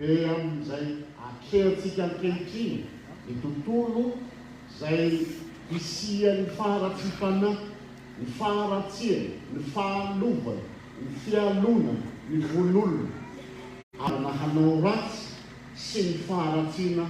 Be amin'izay atrehantsika ankehitriny ny tontolo izay hisian'ny faharatsiam-panahy, ny faharatsiana, ny fahalovana, ny fialonana, ny vono olona, ary na hanao ratsy. sy ny faharatsiana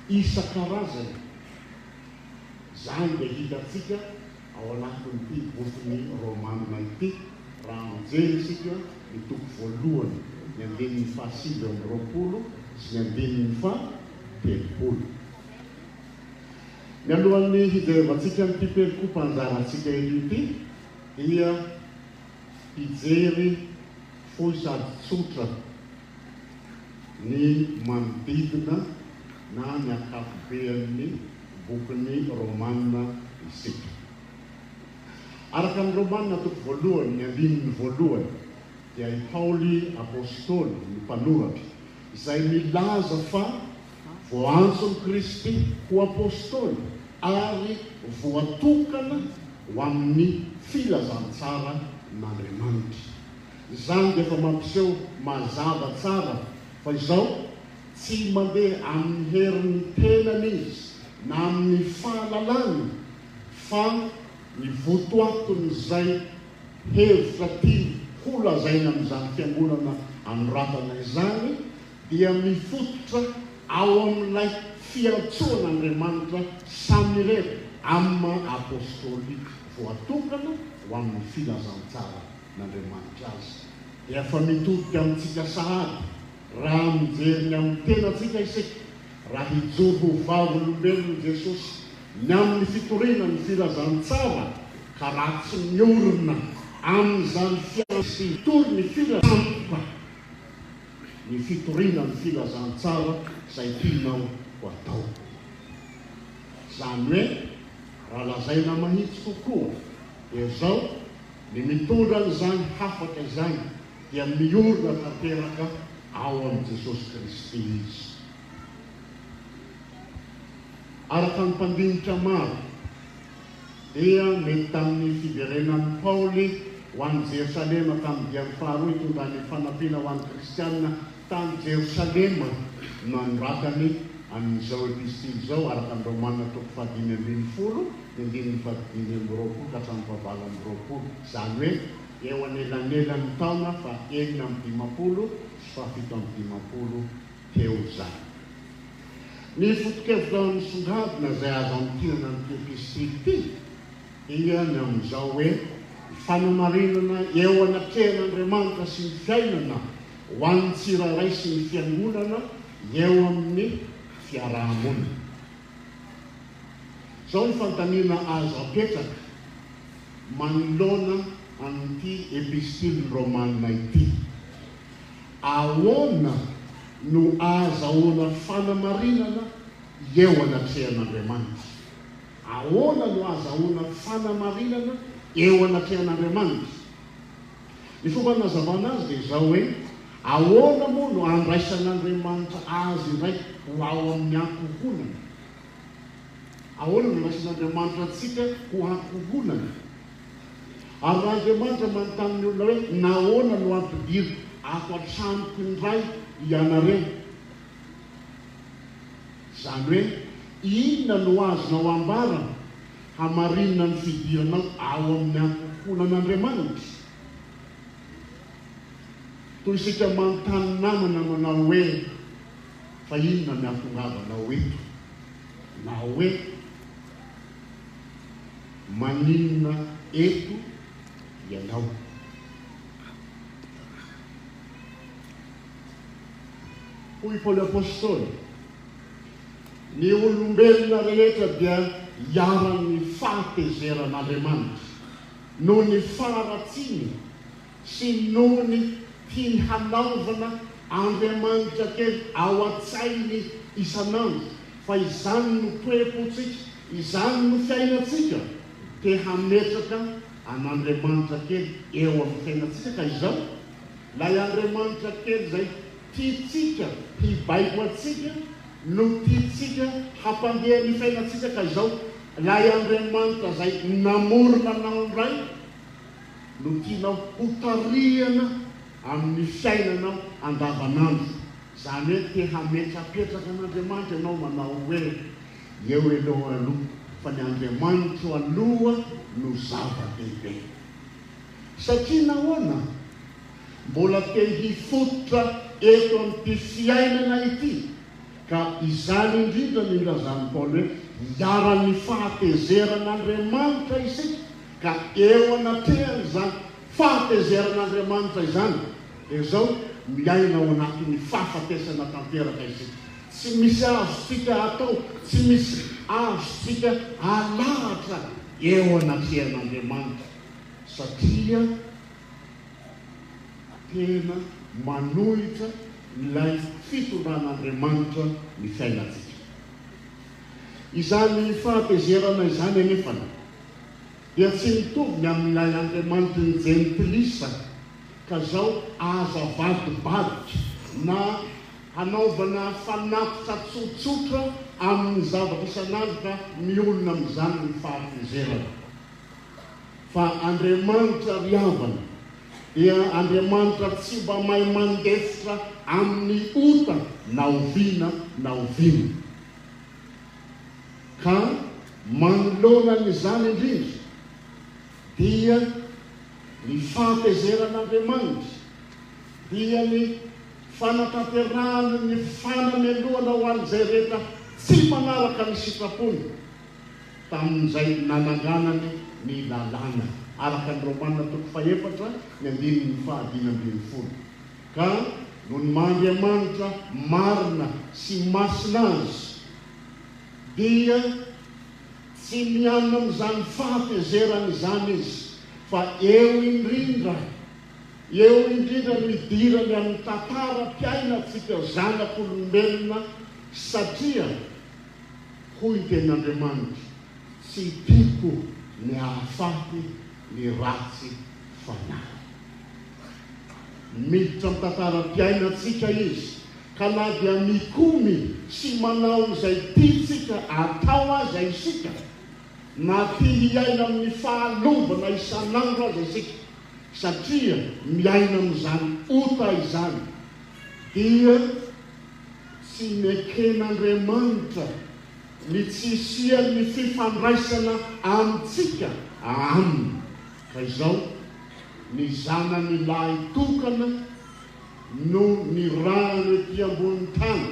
isan-karazany. Izany dia hitantsika ao anatin'ity bokin'i Romana ity, raha mijery isika ny toko voalohany, ny andininy fahasivy amby roapolo sy ny andininy fahatelopolo. Mialohan'ny hijerevantsika an'ity perikopa anjarantsika eto ity, dia hijery fohy sady tsotra ny manodidina na ny ankapoben'ny bokin'ny Romana isika. Araka ny Romana toko voalohany ny andininy voalohany dia i Paoly Apostoly no mpanoratra izay milaza fa voaantson'i Kristy ho Apostoly ary voatokana ho amin'ny filazantsara n'Andriamanitra. Izany dia efa mampiseho mazava tsara fa izao tsy mandeha amin'ny herin'ny tenany izy na amin'ny fahalalany fa ny votoatin'izay hevitra tiany holazaina amin'izany fiangonana anoratana izany dia mifototra ao amin'ilay fiantsoan'Andriamanitra samirery amin'ny maha-apôstôly voatokana ho amin'ny filazantsara n'Andriamanitra azy dia efa mitodika amintsika sahady raha mijery ny amin'ny tenantsika isika, raha hijoro ho vavolombelon'i Jesosy ny amin'ny fitoriana ny filazantsara ka raha tsy miorina amin'izany fiantraikan'ny sy hitory ny filazantsara ny fitoriana ny filazantsara izay tianao ho atao. Izany hoe raha lazaina mahitsy kokoa dia izao. Ny mitondra an'izany hafatra izany dia miorina tanteraka ao amin'i Jesosy Kristy izy. Araka ny mpandinika maro, dia mety tamin'ny fiverenan'i Paoly ho any Jerosalema tamin'ny diany faharoa itondrany fanampiana ho an'ny Kristianina Tany Jerosalema no nanoratany an' izao epistily izao, araka ny Romana toko fahadimy ambin'ny folo, ny andininy fahadimy amby roapolo ka hatramin'ny fahavalo amby roapolo, izany hoe eo anelanelan' ny taona fahenina amby dimampolo sy fahafito amby dimampolo teo izany. Ny foto-kevitra misongadina izay azo amintinana an' ity epistily ity dia ny amin' izao hoe, Fanamarinana eo anatrehan' Andriamanitra sy ny fiainana, ho an'ny tsirairay sy ny fiangonana eo amin'ny fiaraha-monina. Izao ny fanontaniana azo apetraka manoloana an'ity Epistilin'ny Romana ity, Ahoana no ahazahoana fanamarinana eo anatrehan'Andriamanitra? Ahoana no ahazahoana fanamarinana eo anatrehan'Andriamanitra? Ny fomba nanazavana azy dia izao hoe, Ahoana moa no andraisan'Andriamanitra azy indray ho ao amin'ny ankohonany? Ahoana no andraisan'Andriamanitra antsika ho ankohonany? Ary raha Andriamanitra manontany ny olona hoe, Nahoana no ampidiriko ato an-tranoko indray ianareo? Izany hoe, inona no azonao ambara Hamarinina ny fidiranao ao amin'ny ankohonan'Andriamanitra. Toy isika manontany namana manao hoe, Fa inona ny hahatongavanao eto? na hoe, Maninona eto ianao? Hoy Paoly Apostoly, Ny olombelona rehetra dia iharan'ny fahatezeran'Andriamanitra noho ny faharatsiany sy noho ny tiany hanaovana andriamanitra kely ao an-tsainy isan'andro, fa izany no toe-pontsika, izany no fiainantsika, te hametraka an'andriamanitra kely eo amin'ny fiainantsika ka izao ilay andriamanitra kely izay. Tiantsika hibaiko antsika no tiantsika hampandeha ny fainantsika ka izao lay Andriamanitra izay namorona anao indray no tianao ho tarihana amin'ny fiainanao andavanandro izany hoe te hametrapetraka an'Andriamanitra ianao manao hoe eo ianao aloha fa ny Andriamanitro aloha no zava-dehibe satria nahoana? mbola te hifototra eto amin'ity fiainana ity, ka izany indrindra ny ilazan'i Paoly hoe iharan'ny fahatezeran'Andriamanitra isika, ka eo anatrehan'izany fahatezeran'Andriamanitra izany dia izao, miaina ao anatin'ny fahafatesana tanteraka isika, tsy misy azontsika atao, tsy misy azontsika alahatra eo anatrehan'Andriamanitra, satria. Tena manohitra ilay fitondran'Andriamanitra ny fiainantsika. Izany fahatezerana izany anefa dia tsy mitovy ny amin'ilay Andriamanitry ny Jentilisa, ka zao aza avadibadika na hanaovana fanatitra tsotsotra amin'ny zavatra isan'andro ka miolona amin'izany ny fahatezerana. fa Andriamanitra ry havana dia Andriamanitra tsy mba mahay mandefitra amin'ny ota na oviana na oviana. Ka manoloana an'izany indrindra dia ny fahatezeran'Andriamanitra dia ny fanatanterahany ny fanamelohana ho an'izay rehetra tsy manaraka ny sitrapony. tamin'izay nananganany ny lalàna, araka ny Romana toko fahefatra ny andininy fahadimy ambin'ny folo, ka noho ny maha Andriamanitra marina sy masina Azy, dia tsy miaina amin'izany fahatezerana izany Izy, fa eo indrindra, eo indrindra no idirany amin'ny tantaram-piainantsika zanak'olombelona, satria. Hoy ny Tenin'Andriamanitra, Tsy tiako ny hahafaty ny ratsy fanahy. Miditra amin'ny tantaram-piainantsika izy, ka na dia mikomy sy manao izay tiantsika atao aza isika, na tia hiaina amin'ny fahalovana isan'andro aza isika, satria miaina amin'izany ota izany, dia. Tsy neken'Andriamanitra ny tsy hisian'ny fifandraisana amintsika Aminy, ka izao, ny Zanany lahy tokana no nirahany ety ambonin'ny tany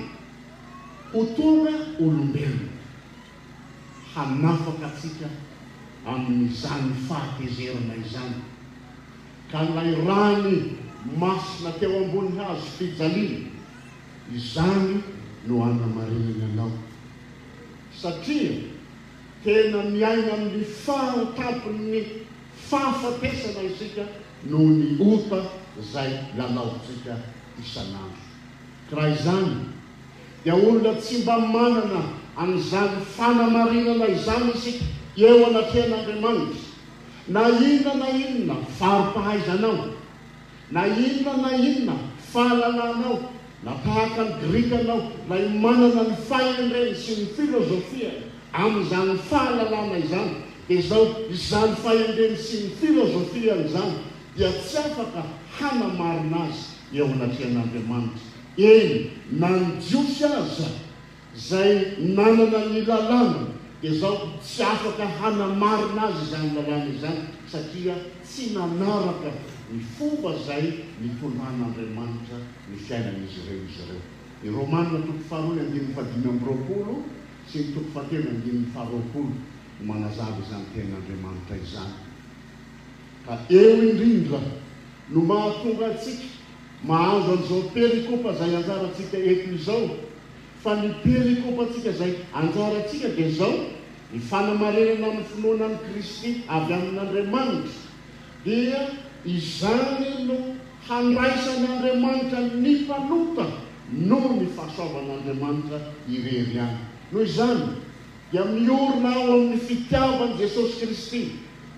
ho tonga olombelona, hanafaka antsika amin'izany fahatezerana izany. ka ilay rany masina teo ambony hazo fijaliana, izany no hanamarinany anao. Satria tena miaina amin'ny fahan-tampon'ny fahafatesana isika noho ny ota izay lalaovintsika isan'andro. Ka raha izany, dia olona tsy mba manana an'izany fanamarinana izany isika eo anatrehan'Andriamanitra, Na inona na inona fari-pahaizanao, na inona na inona fahalalanao, na tahaka ny Grika anao, na iomanana ny fahendreny sy ny filozofiany amin'izany fahalalana izany, dia izao, izany fahendreny sy ny filozofiany izany dia tsy afaka hanamarina azy eo anatrehan'Andriamanitra, eny, na ny Jiosy aza. Izay nanana ny lalàna dia izao tsy afaka hanamarina azy izany lalàna izany satria tsy nanaraka ny fomba izay nitondran'Andriamanitra ny fiainan'izy ireo izy ireo. Ny Romana toko faharoa ny andininy fahadimy amby roapolo sy ny toko fahatelo ny andininy faharoapolo no manazava izany tenin'Andriamanitra izany. Ka eo indrindra no mahatonga antsika mahazo an'izao perikopa izay ianjarantsika eto izao Fa ny perikopantsika izay anjarantsika dia izao, ny fanamarinana ny finoana an'i Kristy avy amin'Andriamanitra, dia izany no handraisan'Andriamanitra ny mpanota noho ny fahasoavan'Andriamanitra irery ihany. Noho izany dia miorina ao amin'ny fitiavan'i Jesosy Kristy,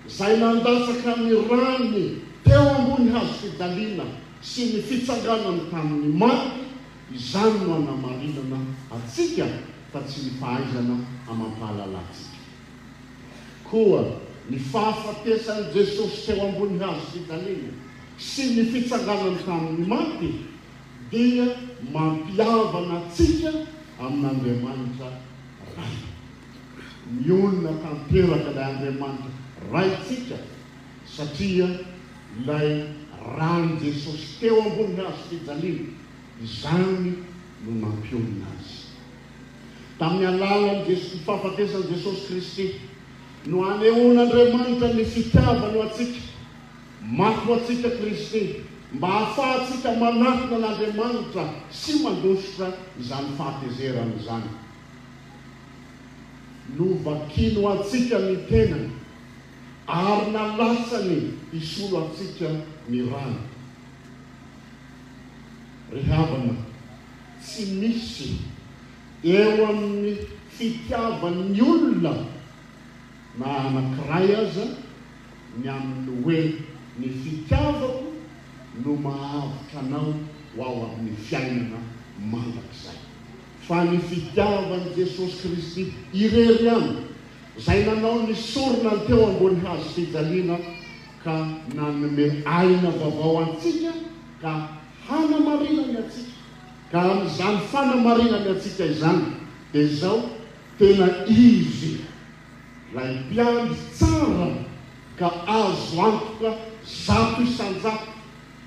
izay nandatsaka ny rany teo ambony hazofijaliana sy ny fitsanganany tamin'ny maty, Izany no hanamarinana antsika fa tsy ny fahaizana amam-pahalala antsika. Koa ny fahafatesan'i Jesosy teo ambony hazo fijaliana sy ny fitsanganany tamin'ny maty dia mampihavana antsika amin'Andriamanitra Ray. Nionona tanteraka ilay Andriamanitra Raintsika. satria ilay ran'i Jesosy teo ambony hazofijaliana izany no nampionona azy. Tamin'ny alalan'ny Jesosy, ny fahafatesan'i Jesosy Kristy, no anehoan'Andriamanitra ny fitiavany ho antsika. Maty ho antsika Kristy mba hahafahantsika manatona an'Andriamanitra sy mandositra izany fahatezerana izany. Novakiny ho antsika ny tenany Ary nalatsany hisolo antsika ny rany. Ry havana, tsy misy eo amin'ny fitiavan'ny olona na anankiray aza ny amin'ny hoe ny fitiavako no mahavotra anao ho ao amin'ny fiainana mandrakizay, fa ny fitiavan'i Jesosy Kristy irery ihany. Izay nanao ny sorona ny teo ambony hazo fijaliana ka nanome aina vaovao antsika ka hanamarinany antsika, ka amin'izany fanamarinany antsika izany dia izao tena Izy Ilay Mpiandry tsara ka azo antoka zato isan-jato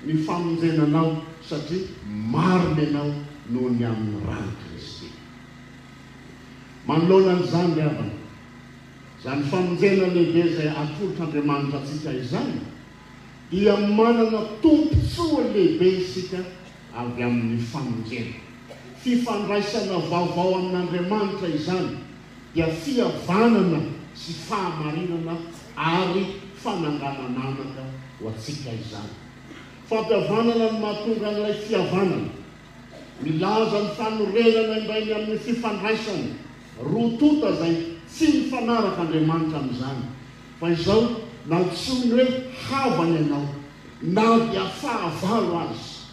ny famonjena anao satria maro ny anao noho ny amin'ny ran'i Kristy. Manoloana an'izany ry havana, izany famonjena lehibe izay atolotr'Andriamanitra antsika izany, dia manana tombontsoa lehibe isika avy amin'ny famonjena. Fifandraisana vaovao amin'Andriamanitra izany, dia fihavanana sy fahamarinana ary fananganana anaka ho antsika izany. Fampihavanana no mahatonga an'ilay fihavanana. Milaza ny fanorenana indray ny amin'ny fifandraisany roa tonta izay tsy mifanaraka Andriamanitra amin'izany. Fa izao no antsoiny hoe havany ianao, na dia fahavalo aza.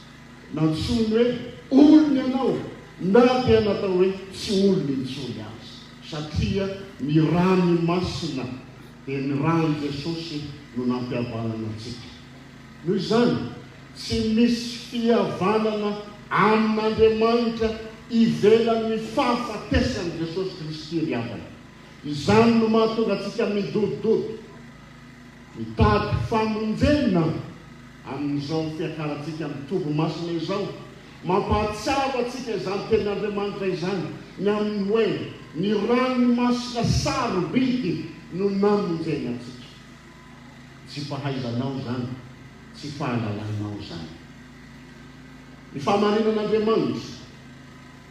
Nantsoiny hoe olony ianao, na dia natao hoe tsy olony intsony aza. Satria ny rany masina, dia ny ran'i Jesosy no nampihavanana antsika. Noho izany, tsy misy fihavanana amin'Andriamanitra ivelan'ny fahafatesan'i Jesosy Kristy ry havana. Izany no mahatonga antsika midodododo, mitady famonjena amin'izao fiakarantsika amin'ny toby masina izao. Mampahatsiaro antsika izany tenin'Andriamanitra izany ny amin'ny hoe, Ny ranony masina sarobidy no namonjeny antsika. Tsy fahaizanao izany, tsy fahalalanao izany. Ny fahamarinan'Andriamanitra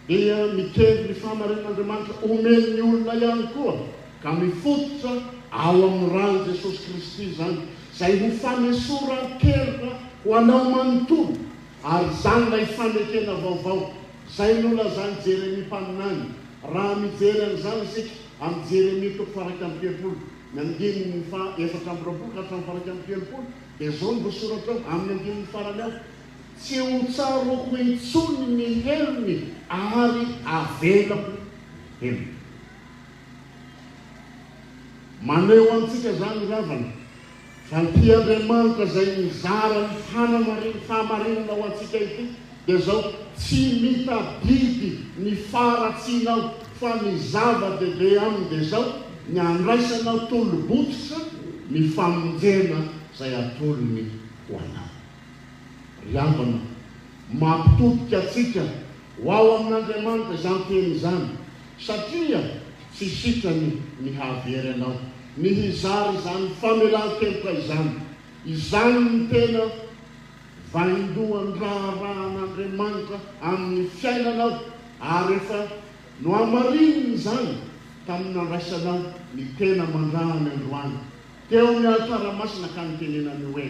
dia mikendry ny fahamarinan'Andriamanitra omen'ny olona ihany koa, ka mifototra ao amin'ny ran'i Jesosy Kristy izany, izay ho fanesoran-keloka ho anao manontolo, ary izany ilay fanekena vaovao izay nolazan'i Jeremia mpaminany, raha mijery an'izany isika amin'ny Jeremia toko faha iraika amby telopolo. Ny andininy faha efatra amby roapolo ka hatramin'ny faha iraika amby telopolo dia izao no voasoratra ao amin'ny andininy farany ao, Tsy ho tsaroako intsony ny helony ary avelako helony. Maneho antsika izany ravana. Fa ity Andriamanitra izay nizara ny fanamarin fahamarinana ho antsika ity dia izao, Tsy mitadidy ny faharatsiana aho, fa ny zava-dehibe aminy dia izao, ny handraisanao tolo-bototra ny famonjena izay atolony ho anao. Ry havana, mampitodika antsika Ho ao amin'Andriamanitra izany teny izany, satria tsy sitrany ny hahavery anao ny hizara izany famelan-keloka izany. Izany no tena vaindohan'ny raharahan'Andriamanitra amin'ny fiainanao, ary efa nohamarininy izany tamin'ny nandraisanao ny tena aman-drahany androany Teo amin'ny alitara masina ka nitenenany hoe,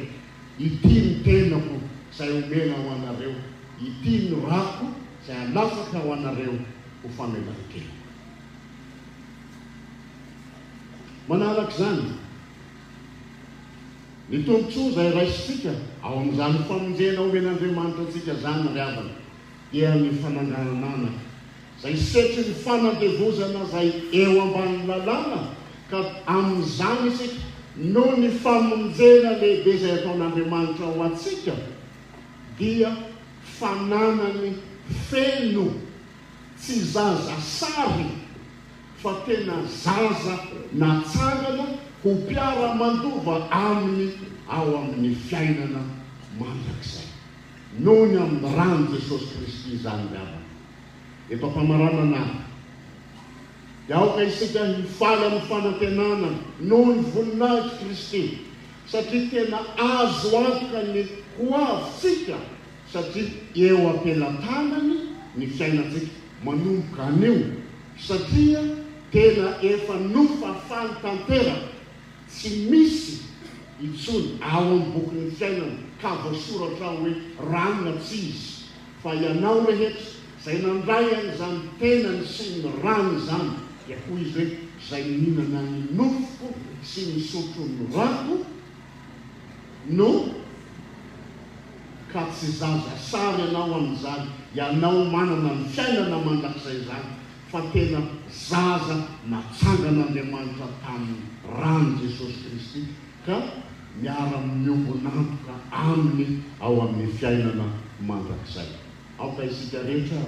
Ity ny tenako izay omena ho anareo, ity ny rako izay alatsaka ho anareo ho famelan-keloka. Manaraka izany, ny tombontsoa izay raisintsika ao amin'izany famonjena omen'Andriamanitra antsika izany ry havana dia ny fananganana anaka. Izay setrin'ny fanandevozana izay eo ambanin'ny lalàna ka amin'izany isika noho ny famonjena lehibe izay ataon'Andriamanitra ho antsika dia fananany feno tsy zaza sary fa tena zaza natsangana ho mpiara-mandova aminy ao amin'ny fiainana mandrakizay noho ny amin'ny ran'i Jesosy Kristy izany ry havana. Efa famaranana aho. Dia aoka isika hifaly amin'ny fanantenana noho ny voninahitry Kristy, satria tena azo antoka ny ho avintsika, satria eo am-pelatanany ny fiainantsika manomboka anio, satria tena efa nofafany tanteraka, tsy misy intsony ao amin'ny bokin'ny fiainana ka voasoratra ao hoe rano na tsy izy. fa ianao rehetra izay nandray an'izany tenany sy ny rany izany, dia hoy izy hoe, izay mihinana ny nofoko sy misotro ny rako no Ka tsy zaza sary ianao amin'izany, ianao manana ny fiainana mandrakizay izany, fa tena zaza natsangan'Andriamanitra tamin'ny ran'i Jesosy Kristy, ka miara-miombon'antoka Aminy ao amin'ny fiainana mandrakizay. Aoka isika rehetra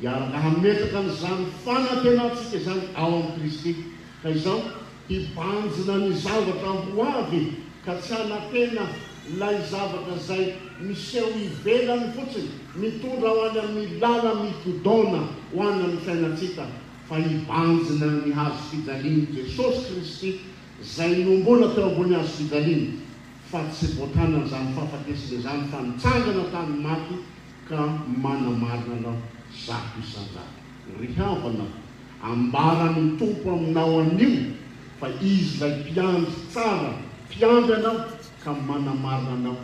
hiaraka hametraka an'izany fanantenantsika izany ao amin'i Kristy, ka izao hibanjina ny zavatra ho avy, ka tsy hanantena ilay zavatra izay miseho ivelany fotsiny, mitondra ho any amin'ny làla migodaona ho any amin'ny fiainantsika, fa hibanjina ny hazofijalian'i Jesosy Kristy izay niombona teo ambony hazo fijaliana, fa tsy voatàna izany fahafatesana izany, fa nitsangana tamin'ny maty, ka manamarina anao zato isan-jato. Ry havana, ambaran'ny Tompo aminao anio, fa Izy ilay Mpiandry tsara, Mpiandry anao, ka manamarina anao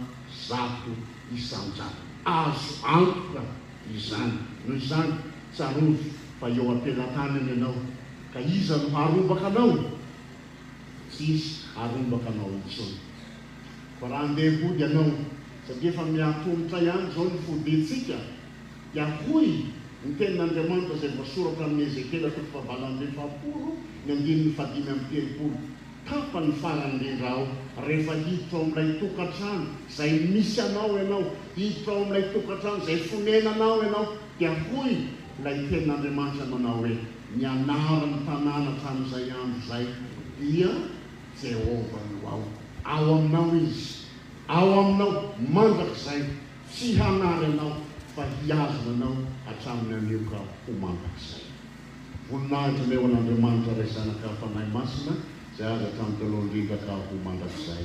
zato isan-jato. Azo antoka izany. Noho izany, tsarovy fa eo am-pelantanany ianao. Ka iza no harombaka anao? Tsy hisy harombaka anao intsony. Fa raha handeha hody ianao, satria efa miha-atomotra ihany izao ny fodiantsika, dia hoy ny Tenin'Andriamanitra izay voasoratra amin'i Ezekiela toko fahavalo amby efapolo ny andininy fahadimy amby telopolo, Tapany farany indrindra aho, rehefa hiditra ao amin'ilay tokantrano izay misy anao ianao, hiditra ao amin'ilay tokantrano izay fonenanao ianao, dia hoy ilay Tenin'Andriamanitra manao hoe. Ny anaran'ny tanàna hatramin'izay andro izay dia Jehovah no ao. Ao aminao izy, ao aminao mandrakizay, tsy hanary anao, fa hihazona anao hatramin'ny anioka ho mandrakizay. Voninahitra anie ho an'Andriamanitra Ray Zanaka Fanahy Masina, izay azy hatramin'ny talohan-dRindra ka ho mandrakizay.